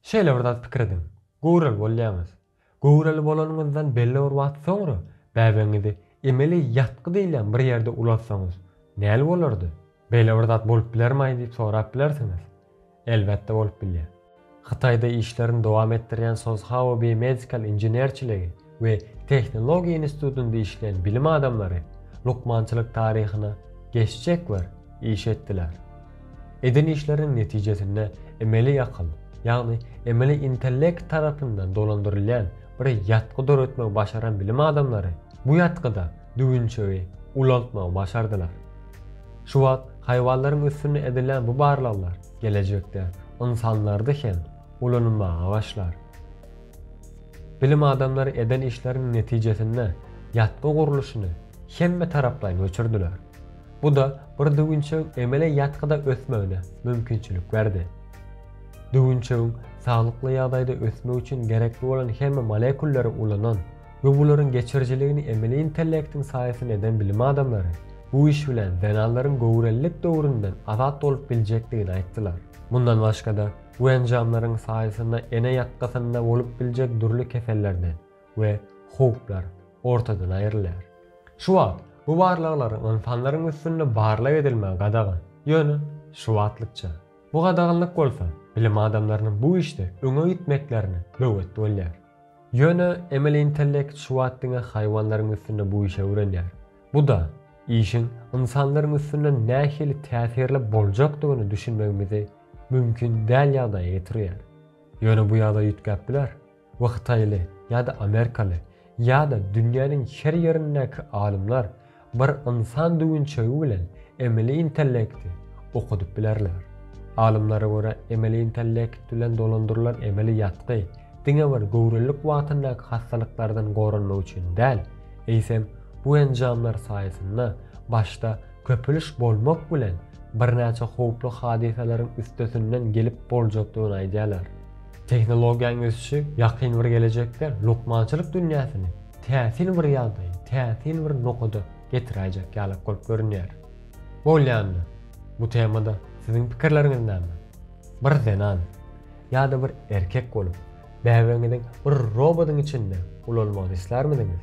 Şeýle bir zat pikir ediň. Göwreli bolýaňyz. Göwreli bolanyňyzdan belli bir wagt soňra bäbegiňizi emeli ýatgy diýilýän bir ýerde ulatsaňyz, näl bolardy? Beýle bir zat bolup bilermaý diýip sorap bilersiňiz. Elbetde bolup bilýär. Hytaýda işlerini dowam etdirýän Sozhao Biomedical inženerçiligi we tehnologiýa institutyny dişleýän bilim adamlary lukmançylyk taryhyna geçjek wer iş etdiler. Eden işleriniň netijesinde emeli akyl, ýagny emeli intellekt tarapyndan dolandyrylýan bir ýatgy döretmegi başaran bilim adamlary bu ýatgyda düwünçegi ulaltmagy başardylar. Şu wagt haýwanlaryň üstünde edilýän bu barlaglar gelejekde ynsanlarda hem ulanylmaga başlar. Bilim adamlary eden işleriniň netijesinde ýatgy gurluşyny hemmetaraplaýyn öçürdiler. Bu-da bir düwünçegiň emele ýatgyda ösmegine mümkinçilik berdi. Düwünçegiň saglykly ýagdaýda ösmegi üçin gerekli bolan hemme molekulleri ulanan we bularyň geçirijiligini emeli intellektiň saýasynda eden bilim adamlary bu iş bilen zenanlaryň göwrelilik döwründen azat bolup biljekdigini aýtdylar. Mundan başga-da, Bu enjamlaryň saýasynda ene ýatgysynda bolup biljek dürli kesellerden we howplar ortadan aýrylýar. Şu wagt bu barlaglaryň ynsanlaryň üstünde barlag edilmegi gadagan, ýöne şu wagtlykça. Bu gadaganlyk bolsa bilim adamlarynyň bu işde öňe gitmeklerine böwet bolýar. Ýöne emeli intellekt şu wagt diňe haýwanlaryň üstünde bu işi öwrenýär. Bu-da işiň ynsanlaryň üstünde nähili täsirli boljakdygyny düşünmegimizi mümkin däl ýagdaýa getirýär. Ýöne bu ýagdaý üýtgäp biler we hytaýly ýa-da amerikaly ýa-da dünýäniň her ýerindäki alymlar bir ynsan düwünçegi bilen emeli intellekti okadyp bilerler. Alymlara görä emeli intellekt bilen dolandyrylan emeli ýatgy diňe bir göwrelilik wagtyndaky hassalyklardan goranmak üçin däl, eýsem bu enjamlar saýasynda başda Köpüliş bolmak bilen, birnäçe howply hadysalaryň üstesinden gelip boljakdygyny aýdýarlar. Tehnologiýanyň ösüşi ýakyn bir gelejekde lukmançylyk dünýäsini täsin bir ýagdaýa, täsin bir nokada getiräýjek ýalak bolup görünýär. Bolýanda, bu temada siziň pikirleriňiz näme? Bir zenan, ýa-da bir erkek bolup, bäbegiňiziň bir robodyň içinde ulalmagyny islärmidiňiz?